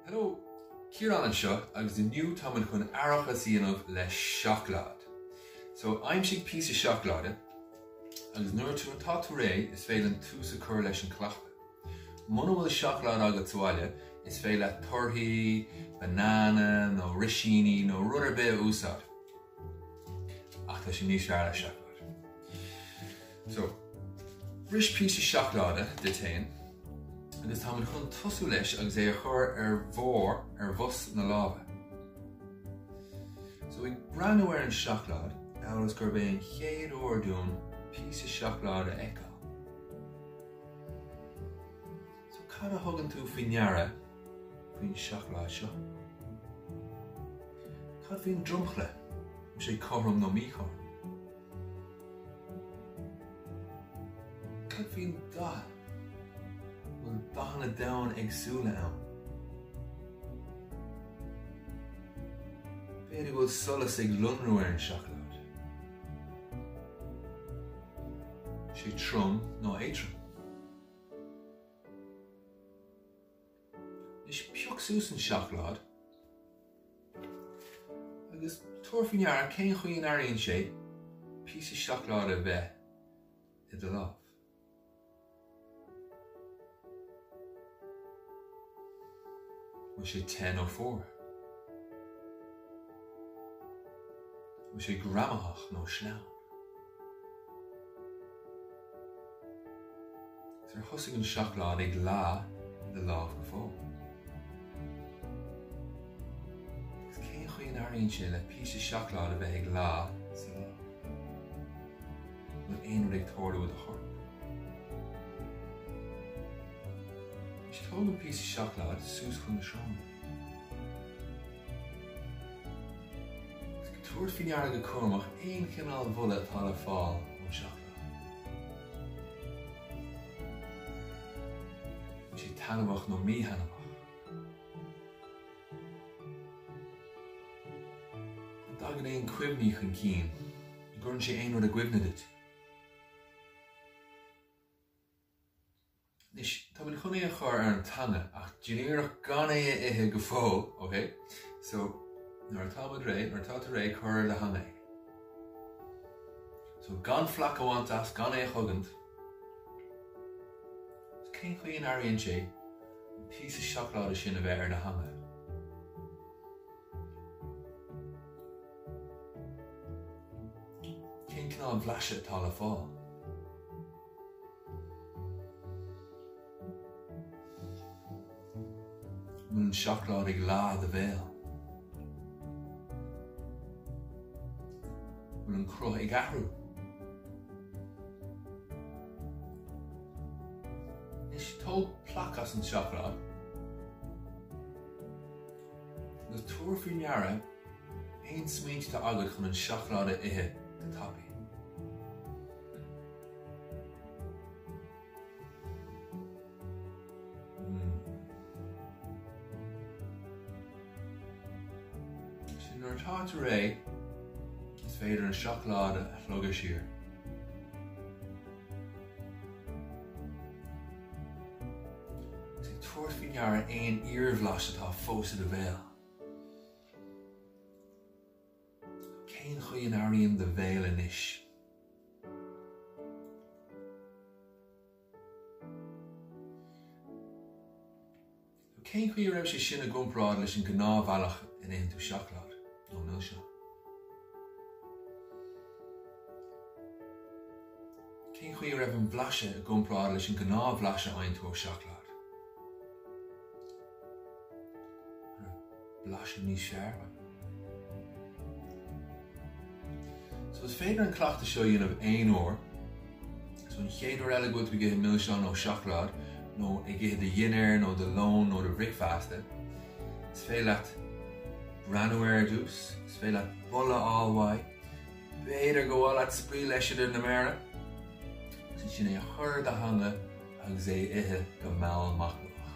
Hello, Ciarán anseo agus inniu táimid chun aireachas a dhéanamh le seacláid. So, aimsigh píosa seacláide agus nuair atá tú, atá tú réidh is féidir linn tús a chur leis an chleachtadh. Muna bhfuil seacláid agat sa bhaile is féidir leat torthaí, banana nó roisíní nó rud ar bith a úsáid. Ach tá sé níos fearr le seacláid. So, bris píosa seacláide duit féin agus táimid chun tosú leis agus é a chur ar bharr, ar bhos na láimhe. So, ag breathnú ar an seacláid, amhail is gurb é an chéad uair dúinn píosa seacláide a fheiceáil. So cad a thugann tú faoi ndeara faoin seacláid seo? Cad faoin dromchla, an sé cothrom nó míchothrom? Cad faoin dath, an bhfuil dathanna domhain éagsúla ann? B'fhéidir go bhfuil solas ag lonrú ar an seacláid. An sé trom nó éadrom? Anois, pioc suas an seacláid agus tabhair faoi ndeara cén chaoi a n-airíonn sé píosa seacláide a bheith i do lámh. Bhfuil sé te nó fuar? Bhfuil sé greamaitheach nó sleamhain? Ar thosaigh an seacláid ag leá i do lámh go fóill? Agus cén chaoi a n-airíonn sé le píosa seacláid a bheith ag leá sa lámh? An bhfuil aon rud ag tarlú i do chorp? Anois tóg an píosa seacláid suas chun na sróine. Ag tabhairt faoi ndeara go cúramach aon chineál bholadh atá le fáil ón seacláid. An bhfuil sé taitneamhach nó míthaitneamhach? An dtagann aon cuimhní chun cinn? An gcuireann sé aon rud i gcuimhne duit? Anois, tá muid chun é a chur ar an teanga, ach déan iarracht gan é a ithe go fóill, OK? So, nuair atá muid réidh, nuair atá tú réidh, cuir ar do theanga é. So, gan plaic a bhaint as, gan é a chogaint. So, cén chaoi an airíonn sé an píosa seacláide sin a bheith ar do theanga? Cén cineál blas atá le fáil? An bhfuil an seacláid ag leá i do bhéal? An bhfuil an cruth ag athrú? Anois tóg plaic as an seacláid agus tabhair faoi ndeara aon smaointe atá agat chun an seacláid a ithe go tapaidh. Nuair atá tú réidh, is féidir an seacláid a shlogadh siar. Is ag tabhairt faoi ndeara aon iarbhlas atá fós i do bhéal. Cén chaoi an airíonn do bhéal anois? Nó cén chaoi a raibh sé sin i gcomparáid leis an ngnáthbhealach ina itheann tú seacláid nó milseán? Cén chaoi a raibh an blaiseadh i gcomparáid leis an ngnáthbhlaiseadh a fhaigheann tú ó seacláid? blaiseadh níos searbha. So is féidir an cleachtadh seo a dhéanamh aon uair. So an chéad uair eile go bhfuil tú ag ithe milseán nó seacláid nó ag ithe do dhinnéir nó do lón nó do bhricfeasta, is féidir leat breathnú air ar dtús, is féidir leat boladh a fháil uaidh, b'fhéidir go bhféadfá spraoi leis idir na méara, agus ansin é a chur ar do theanga agus é a ithe go mall machnamhach.